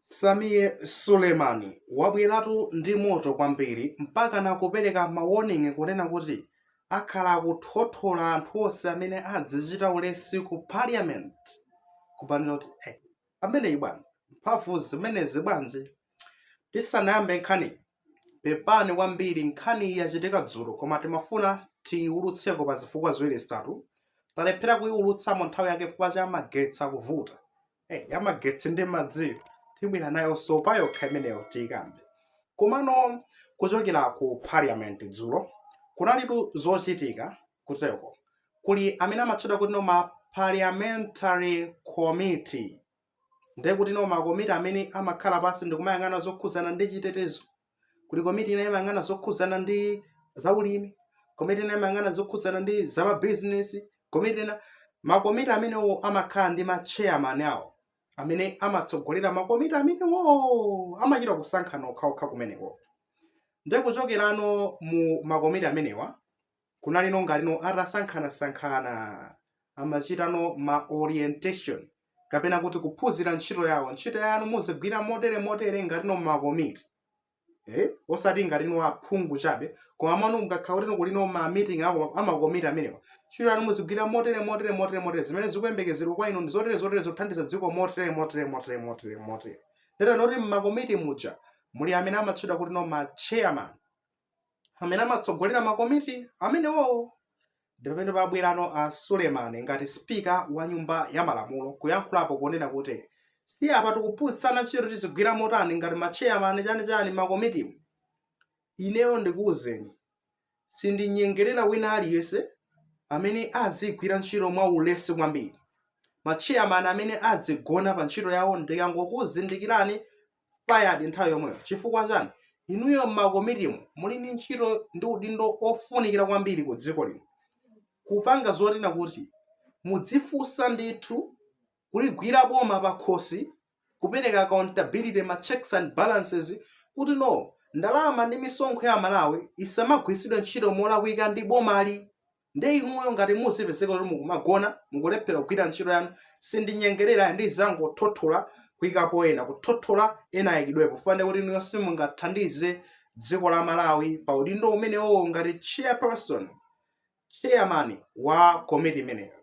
Sameer Suleiman wabweratu ndi moto kwambiri mpakana kupereka ma warning kunena kuti akhala akuthothola anthu onse amene adzichita ulesi ku parliament kupanira kuti eh, ameneyi bwanji mphamvu zimenezi bwanji tisanayambe nkhani pepani kwambiri nkhani iyi yachitika dzulo koma timafuna tiyiwulutseko pa zifukwa ziwiri zitatu talephera kuyiwulutsamo nthawi yake chifukwa cha magetsi akuvuta hey, yamagetsi ndi madziyo tibwera nayo sopa yokha imeneyo tiyikambe komano kuchokera ku parliament dzulo kunalitu zochitika kuteko kuli amene amatchedwa kuti no ma parliamentary committee ndiye kuti no makomiti amene amakhala pansi ndikumayang'ana zokhudzana ndi chitetezo kuli komiti ina imayang'ana zokhudzana ndi zaulimi komiti ina imayang'ana zokhudzana ndi zamabizinesi komiti ina makomiti amenewo amakhala ndi machairman awo amene amatsogolera makomiti amenewo amachita kusankhana okhaokha kumeneko nde kuchokerano mu makomiti amenewa kunali no ngati no atasankhanasankhana amachita no ma orientation kapena kuti kuphunzira ntchito yawo ntchito yanu muzigwira motere motere ngati no makomiti eh? osati ngati no aphungu chabe koma mano mukakhala kuti no kuli no ma meeting ako amakomiti amenewa ntchito yanu muzigwira motere motere motere motere zimene zikuyembekezerwa kwa inu ndi zotere zotere zothandiza dziko motere motere motere motere motere ndiye no kuti mmakomiti muja muli amene amatchedwa kuti no ma chairman amene amatsogolera makomiti amenewowo ndi pamene pabwerano a Suleman ngati spika wa nyumba ya malamulo kuyankhulapo kunena kuti si apa tikuphunzitsana ntchito tizigwira motani ngati ma chairman chanichani makomitimu ineyo ndikuwuzeni sindinyengerera wina aliyense amene azigwira ntchito mwa ulesi kwambiri ma chairman amene azigona pa ntchito yawo ndikangokuzindikirani fired nthawi yomweyo chifukwa chani inuyo mmakomitimu muli ndi ntchito ndi udindo ofunikira kwambiri ku dziko lino kupanga zoona kuti mudzifunsa ndithu kuligwira boma pakhosi kupereka accountability ma checks and balances kuti no ndalama ndi misonkho ya amalawi isamagwiritsidwe ntchito molakwika ndi bomali Nde inuyo ngati muzipezeka kuti mukumagona, mukulephera kugwira ntchito yanu, sindinyengerera ayi ndizingothothola kuikapo ena, kuthothola ena ayikidwepo chifukwa ndekuti inuyo simungathandize dziko la Malawi pa udindo umenewowo ngati chairperson, chairman wa komiti imeneyo.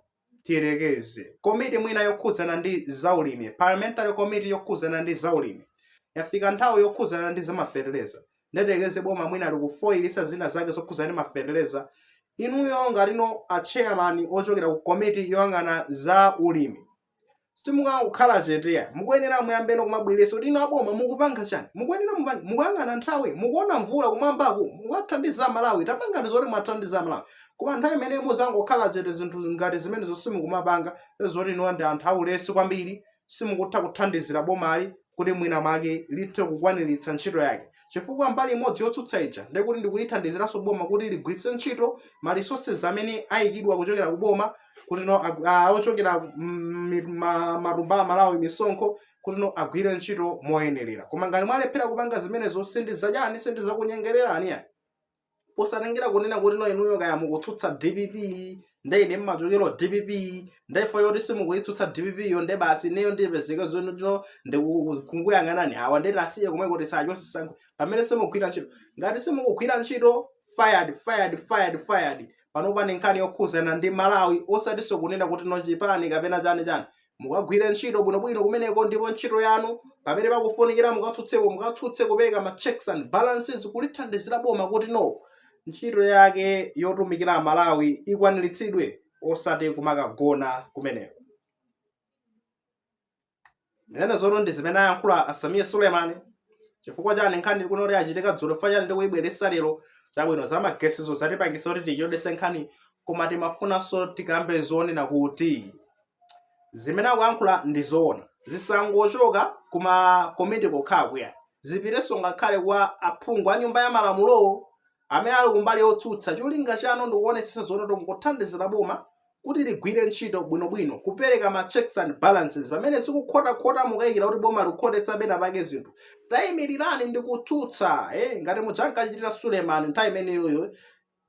tiyerekeze komiti mwina yokhudzana ndi zaulimi parliamentary committee yokhudzana ndi zaulimi yafika nthawi yokhudzana ndi zamafetereza nde tiyerekeze boma mwina likufoyilitsa zina zake zokhudzana ndi mafetereza inuyo ngatino a chairman ochokera ku komiti yoyang'ana za ulimi simukangokhala chete ai mukuyenera muyambeno kumabweretsa kuti inu aboma mukupanga chani mukuyenera mupange mukuyang'ana nthawi mukuona mvula kumwambaku mwathandiza malawi tapangani zoti muwathandiza malawi koma nthawi imene muzingokhala chete zinthu ngati zimenezo mukumapanga zoti inuwa ndi anthu aulesi kwambiri simukutha kuthandizira bomali kuti mwina mwake lithe kukwaniritsa ntchito yake chifukwa mbali imodzi yotsutsa ija ndi kuti ndikulithandiziranso boma kuti ligwiritse ntchito ma resources amene ayikidwa kuchokera ku boma kuti no agu- ah, ochokera mm, mi- ma- matumba a amalawi misonkho kuti no agwire ntchito moyenerera koma ngati mwalephera kupanga zimenezo sindizachani sindizakunyengererani ayi posatengera kunena kuti no inuyo kaya mukutsutsa dpp nde ine mmachokero dpp nde fo yoti simukuyitsutsa dpp yo nde basi ineyo ndipezeke zonoti no ndikungoyang'anani awa ndeti asiye komwe kuti sachosisankho pamene simugwira ntchito ngati simukugwira ntchito fired fired fired fired panopa ndi nkhani yokhuzana ndi malawi osatinso kunena kuti no chipani kapena chani chani mukagwire ntchito bwinobwino kumeneko ndipo ntchito yanu pamene pakufunikira mukatsutseko mukatsutse kupereka ma checks and balances kulithandizira boma kuti no ntchito yake yotumikira amalawi ikwaniritsidwe osati kumakagona kumeneko ndinene zonoti ndi zimene ayankhula a sameer suleman chifukwa chani nkhani kunena kuti yachitika dzulo chifukwa chani ndikuyibweresa lero chabwino za magesizo zatipangisa kuti tichedwetse nkhani koma timafunanso tikambe zonena kuti zimene akuyankhula ndi zoona zisangochoka kuma komiti kokhako ayi zipitenso ngakhale kwa aphungu a nyumba ya malamulowo amene ali kumbali yotsutsa cholinga chanu ndikuonetsetsa zonoti mukuthandizira boma kuti ligwire ntchito bwinobwino kupereka ma checks and balances pamene zikukhotakhota mukayikira kuti boma likukhotetsa pena pake zinthu tayimirirani ndikutsutsa eh, ngati muja ankachitira suleman nthawi imeneyoyo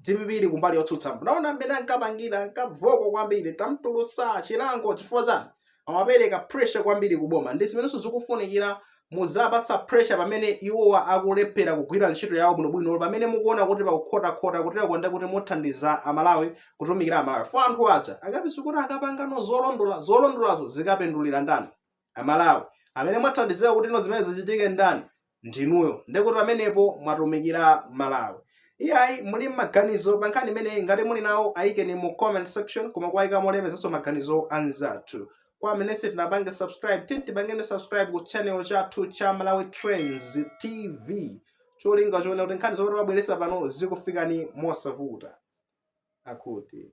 dpp ili kumbali yotsutsa munaona mmene ankapangira ankavuta kwambiri ankamtulutsa chilango chifukwa chani amapereka pressure kwambiri kuboma ndi zimenenso zikufunikira muziwapasa pressure pamene iwowa akulephera kugwira ntchito yawo bwinobwino pamene mukuona kuti pakukhotakhota kutera ndekuti muthandiza amalawi kutumikira amalawi fo anthu aja akapsa kuti akapangano zolondola zolondolazo zikapindulira ndani amalawi amene mwathandizira kuti no zimene zichitike ndani ndinuyo ndekuti pamenepo mwatumikira malawi iyayi muli ndi maganizo pa nkhani imeneyi ngati muli nawo ayikeni mu comment section koma kuwayika molemekezanso maganizo anzathu kwa amene simunatipange subscribe titi tipangeni subscribe ku channel chathu cha malawi trends tv cholinga chonena kuti nkhani zomwe timabweresa pano zikufikani mosavuta akuti